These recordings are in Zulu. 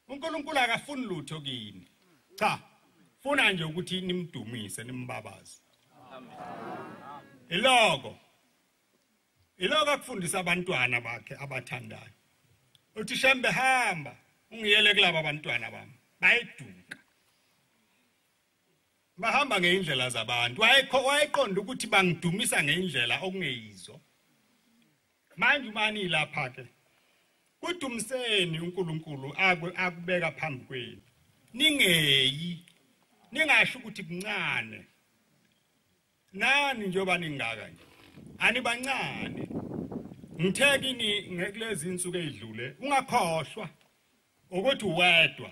uNkulunkulu akafuni lutho kini cha funa nje ukuthi nimdumise nimbabaze iloko iloko akufundisa abantwana bakhe abathandayo uthi shembe hamba ungiyele kulabo abantwana bami bayiduka bahamba ngeindlela zabantu wayekho wayeqonda ukuthi bangidumisa ngeindlela okungeyizo manje umani lapha ke udumiseni uNkulunkulu akubeka phambi kwenu ningeyi ningasho ukuthi kuncane nani njengoba ningaka nje anibancane ngithe kini ngekulezi insuku ezidlule ungakhohlwa ukuthi uwedwa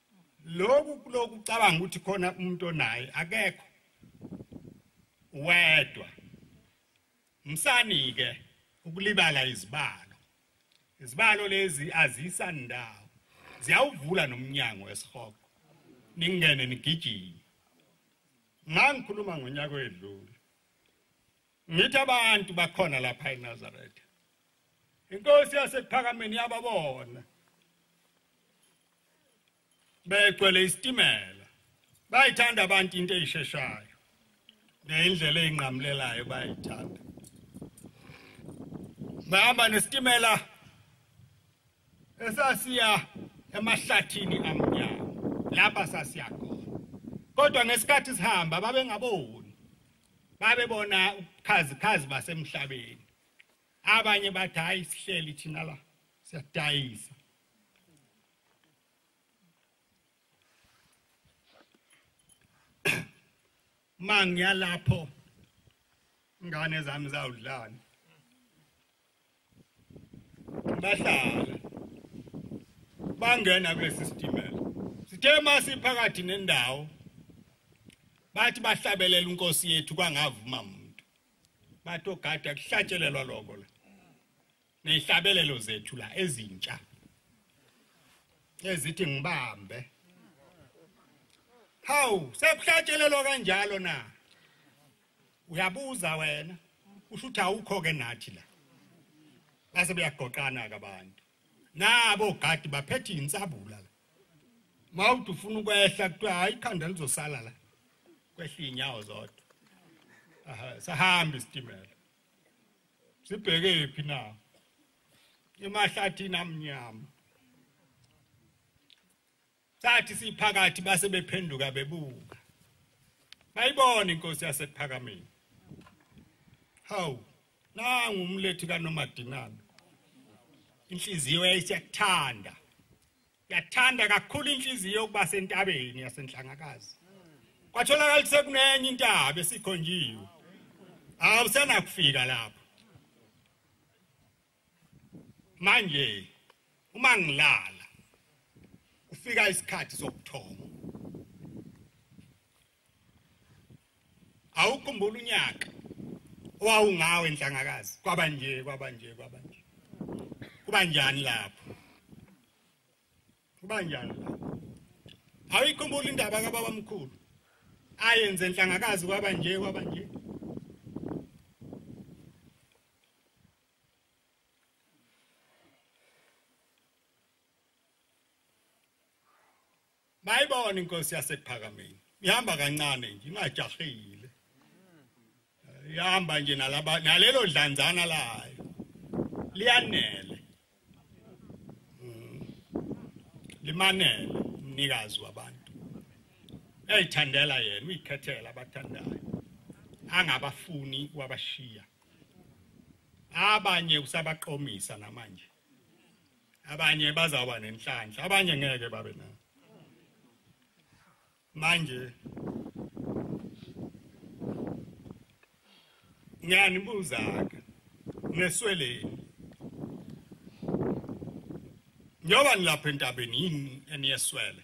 loku kuloku cabanga ukuthi khona umuntu onaye akekho wedwa msani ke ukulibala izibalo izibalo lezi azisa ndawo ziyawuvula nomnyango wesihogo ningene nigijima ngangikhuluma ngonyaka wedlule Ngithi abantu bakhona lapha eNazareth. Inkosi yasekuphakameni yababona. Begcwele isitimela. Bayithanda abantu into eyisheshayo. Neyindlela eyinqamulelayo bayithanda. Bahamba nesitimela esasiya emahlathini amnyama lapha sasiya khona. Kodwa ngesikhathi sihamba babengaboni. babebona ubukhazikhazi basemhlabeni abanye bathi hayi sihleli thina la siyadayisa mangiyalapho ngane zami zawudlana bahlala bangena kulesi sitimela sithe masiphakathi nendawo bathi bahlabelela unkosi yethu kwangavuma muntu bathi ogada kuhlatshelelwa lokho la nehlabelelo zethu la ezintsha ezithi ngibambe hawu sekuhlatshelelwa kanjalo na uyabuza wena usho ukuthi awukho ke nathi la base beyagoqana ke abantu nabo gadi baphethe insabula la mawuthi ufuna ukwehla kuthiwa hayi ikhanda lizosala la kwehla inyawo zodwa aha sahamba isitimela sibheke phi na emahlathini amnyama Sathi siphakathi base bephenduka bebuka. Bayibona inkosi yasekuphakameni. Hawu, nangu umlethi kaNomadinana. Inhliziyo yayisiyakuthanda. Yathanda kakhulu inhliziyo yokuba sentabeni yasenhlangakazi. Kwatholakala ukuthi sekunenye intaba esikhonjiwe. Awusenakufika lapho. manje uma ngilala kufika isikhathi sokuthoma awukhumbula unyaka owawungawe enhlangakazi kwaba nje kwaba nje kwaba nje kuba njani lapho kuba njani lapho awuyikhumbula indaba kababa mkhulu ayenze enhlangakazi kwaba nje kwaba nje mayibona inkosi yasephakameni ihamba kancane nje ingajahile ihamba nje nalaba nalelo dlanzana layo liyanele mm. limanele umnikazi wabantu uyayithandela yena uyikhethela abathandayo angabafuni wabashiya abanye usabaqomisa namanje abanye bazawuba nenhlanhla abanye ngeke babe nayo manje ngiyanibuza-ke nesweleni njengoba nilapha entabeni yini eniyeswele